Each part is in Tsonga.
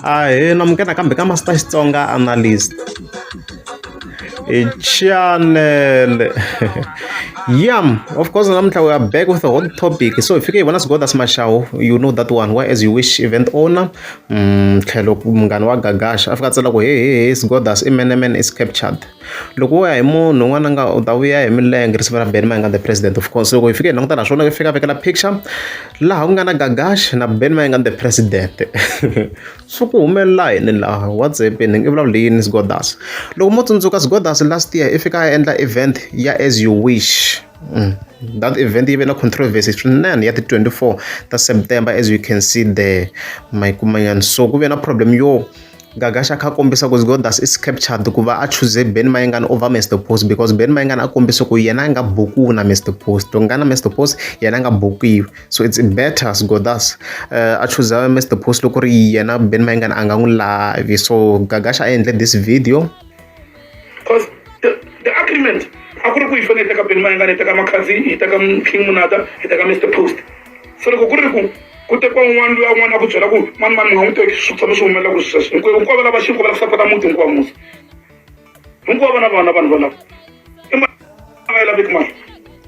Ahee namke nakambe ka Master Xitsonga Analyst hi chanele yam of course namuntlha we are back with a hot topic so hi fike hi vona sigodas mashawu you know that one why as you wish event owner mm, tlhelo munghana wa gagasha a fika a tsela ku hehehe sigodas i man man is captured Loko wo ya hi munhu un'wana a nga u ta vuya hi milenge risimu ra Benny Mayengani the president of course loko hi fika hi languta laha swona fika a vekela picture laha ku nga na Gagash na Benny Mayengani the president swi ku humelela yini laha what's happening i vulavula yini Sgodas loko mo tsundzuka Sgodas last year i fika a endla event ya as you wish that event yi ve na controversy swinene ya ti twenty four ta September as you can see there ma yi kuma nyana so ku ve na problem yo. Gaga xa kha kombisa ku Godas is captured ku va a choose Ben Mayengani over Mr Post because Ben Mayengani a kombisa ku yena a nga bukiwi na Mr Post to nga na Mr Post yena a nga bukiwi so it's better Godas uh, a choose Mr Post loko ri yena Ben Mayengani a nga n'wi lavi so Gaga xa a endle this video cause the, the agreement a ku ri ku hi fanele hi teka beni mayangana hi teka makhazi hi teka king munata hi teka mr post so loko ku ri ku ku tekiwa un'wana loyi un'wana a ku byela ku mani mani mi nga n'wi teki swi tshama swi humelela ku swi sweswo hinkwayo hinkwavo lava xinko va la ku sapota muti hinkwawo musa hinkwavo na vana vanhu valavo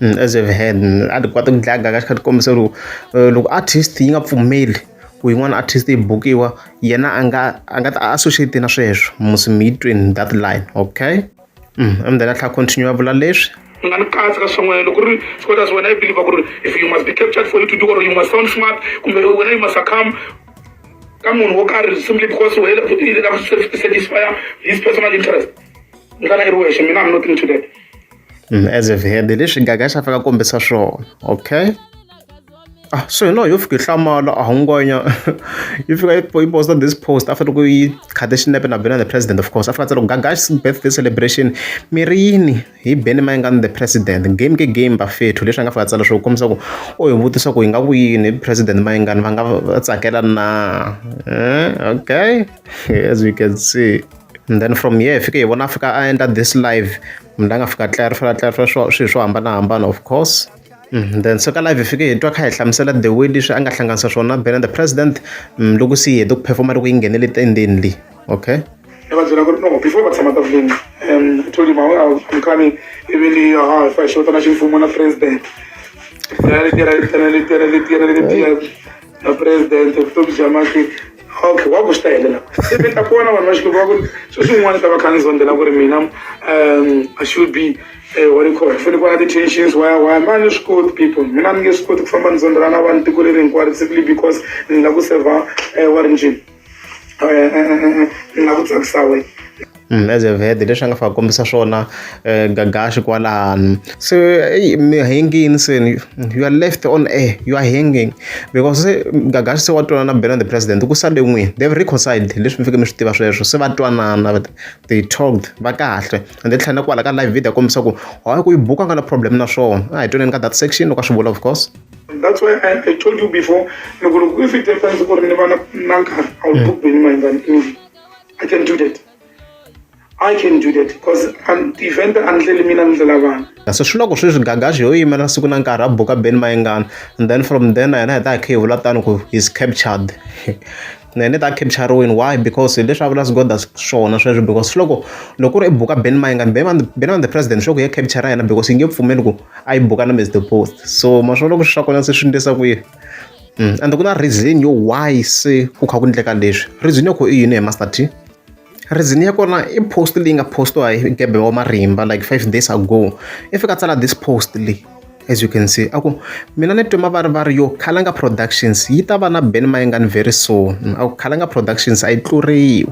Mm, as ever had mm, a ti kota ku dlaga ka xikhathi kombisa loko eh, loko artist yi nga pfumeli ku yin'wana artist yi bukiwa yena a nga a nga ta associate na sweswo musi mi yi twini that line okay mm, amdela tlha continue a vula leswi nga ni katsa ka swin'wana loko ri scotas wena i believe ku ri if you must be captured for you to do or you must sound smart kumbe wena you must succumb ka munhu wo karhi simply because wena satisfy his personal interest ndlala i ri wexe mina am not into that mm, as if head leswi gaga xa faka kombisa swona okay ah so hi loyo yo fika yi hlamala a hungwanya yi fika yi posta this post after ku yi khate xinepe na bena the president of course after tsalo gagash birthday celebration mi ri yini hi beni ma nga the president game ke game ba fethu leswi nga fika tsala swo kombisa ku o hi vutisa ku hi nga ku yini president ma nga va nga tsakela na eh, okay as we can see and then from here hi fike hi vona a fika a endla this live munhu la nga fika clarify clarify swilo swo hambanahambana of course Mm, then so ka live hi fike hi twa kha hi hlamusela the way leswi a nga hlanganisa swona bena the president mm, loko se yi hete ku performa loko yi nghenele tendeni leyi okay ni va byela ku ri no before va tshama tafuleni um i told him i'm coming even ha ah, if i xota na ximfumo na president na president vutomi bya mati okay wa ku swi ta helela se mi ta kona vanhu va xikwembu va ku ri swi swin'wana ta va kha ni zondzela ku ri mina um i should be eh, what do you call it fanele ku va na ti-tensions why why ma ni swi koti people mina ni nge swi koti ku famba ni zondzela na vanhu tiko leri hinkwaro simply because ni lava ku serva eh, wa ri njhini um ni lava ku tsakisa wena as a vhele leswi a nga fane a kombisa swona gagaxi kwalano se eyi mi hengini se ni you are left on air you are hanging because se gagaxi se wa twanana na bela the president ku sale n'wini they have reconciled leswi mi fike mi swi tiva sweswo se va twanana va they talked va kahle and then tlhela na kwala ka live video a kombisa ku hayi ku yi buka a nga na problem na swona a hi twaneni ka that section loko a swi vula of course That's why I, I told you before, if it happens, I'm not going to do it. i can do that I can do that because I'm the event andlele mina ni ndlela vanhu kasi swi loko sweswi gagaxi yo yimela siku na nkarhi a buka ben mayengana and then from then yena hi ta hi kha hi vula tani ku is captured na yena ta captureweni why because leswi a vula sigoda swona sweswo because loko loko ku ri i buka ben mayengana ben on the president swa ku ya capture yena because yi nge pfumeli ku a yi buka na mr post so maswo loko swi swa kona se swi ndlisa kwihi mm, and ku na reason yo why se ku kha ku endleka leswi reason ya ku i yini hi master t reason ya kona i post leyi nga postiwa hi gebe wa marimba like five days ago i fika tsala this post leyi as you can see aku mina ni twe mavarivari yo khalanga productions yi ta va na ben mayengani very soon aku khalanga productions a yi tluriwi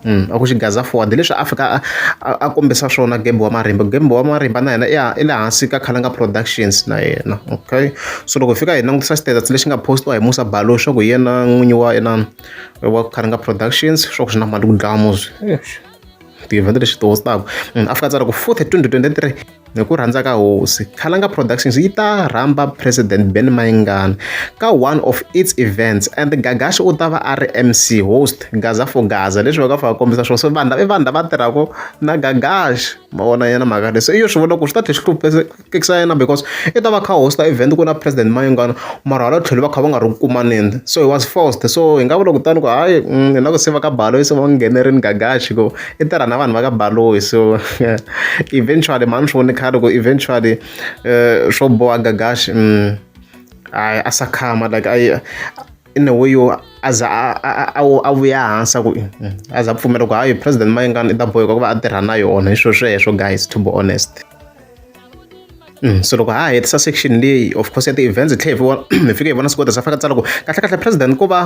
a ku xigaza fowani hi leswi a fika a a a kombisa swona gembo wa marimba gembo wa marimba na yena ya i le hansi ka khalanga productions na yena okay so loko hi fika hi langutisa status lexi nga postiwa hi musa balo swa ku hi yena n'winyi wa yena wa khalanga productions swa ku swi na mali ku dlaya muzi ti-event lexi towotaka munhu a fika a tsala ku futhi twenty twenty three hi ku rhandza ka hosi khalanga productions yi ta rhamba president ben mayingana ka one of its events and gagashi u ta va a ri mc host gaza for gaza leswi va ka fa kombisa swona so vanhu i vanhu lava tirhaka na gagashi ma vona yena mhaka leyi so i yo swi vona ku swi ta tlhe swi hlupekisa yena because i ta va kha hosta event ku na president mayingana mara hala tlhelo va kha va nga ri ku kumaneni so he was forced so hi nga vula kutani ku hayi mm, hi na ku se va ka balo se va nghenerini gagashi ku i tirha na vanhu va ka baloyi so eventually mhani swi voni khale ku eventually eh, swo boha gagashi mm, hayi a sa khama like a in a way yo a za a vuya hansi a ku mm, a za pfumela ku hayi president mayingani i ta boheka ku va a tirha na yona hi swilo sweswo guys to be honest Mm, so loko ha hetisa section leyi of course ya ti-events hi tlhela hi fike hi vona swikota sa faka tsala ku kahlekahle president ku va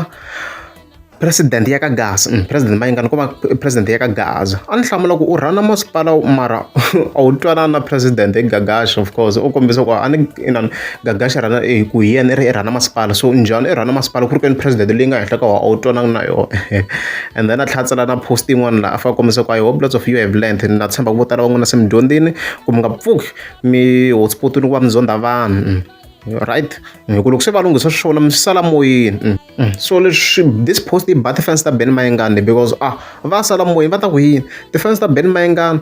President ya ka Gaza mm, president mayingani ku va president ya ka Gaza a ni hlamula ku u rhana masipala mara a wu twanana na president hi Gagash of course u kombisa ku a ni inani Gagash rhana eh, ku hi yena i ri i rhana masipala so njhani i rhana masipala ku ri kweni president leyi nga henhla ka wa a wu twananga na yona and then a tlhatsela na post yin'wana laha a fa kombisa ku i hope lots of you have learned na tshemba ku vo tala van'wana se mi dyondzini ku mi nga pfuki mi hotspot ni ku va mi zonda vanhu mm. right hi ku loko se va lunghisa swona mi swi sala moyeni mm, mm. so leswi this post i ba ti-fans ta ben mayengani because ah va sala moyeni va ta ku yini ti-fans ta ben mayengani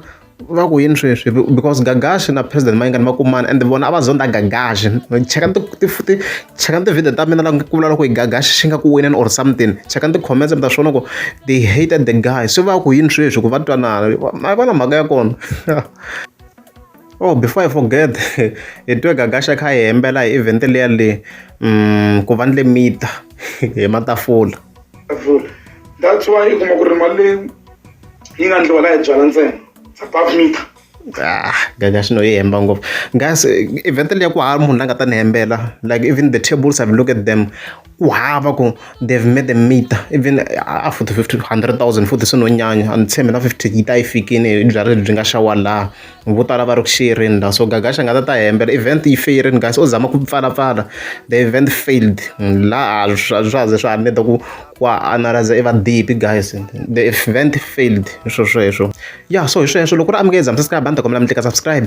va ku yini sweswi because gagashi na president mayengani va kumana and vona a va zonda gagashi cheka cheka ti-video ta mina la ku vula loko hi gagashi xi nga ku wineni or something cheka ti-comments ta swona ku they hated the guy se va ku yini sweswi ku va twanana a va na mhaka ya kona Oh before I forget hi twe Gagasha a kha a hi hembela hi event liya le ku va ni le mita hi matafula vula that's why u kuma ku ri mali leyi yi nga ndliwa la hi byala ntsena it's above mita ah Gagasha no yi hemba ngopfu guys event liya ku hava munhu la nga ta ni hembela like even the tables have look at them ku hava ku they've made a meter even a futhi fifty hundred thousand futhi swi no nyanya a ni tshembi na fifty yi ta yi fikini hi byalwa lebyi nga xawa laha vo tala va ri ku xiyerini laha so gagaxa nga ta ta hembela event yi feyerini kasi o zama ku pfalapfala the event failed laha a swa ha ze swa ha need-a ku ku analayiza i vadibi guys the event failed hi swo sweswo ya so hi sweswo loko u ri amukela zamisa sky banda kombela mi tlika subscribe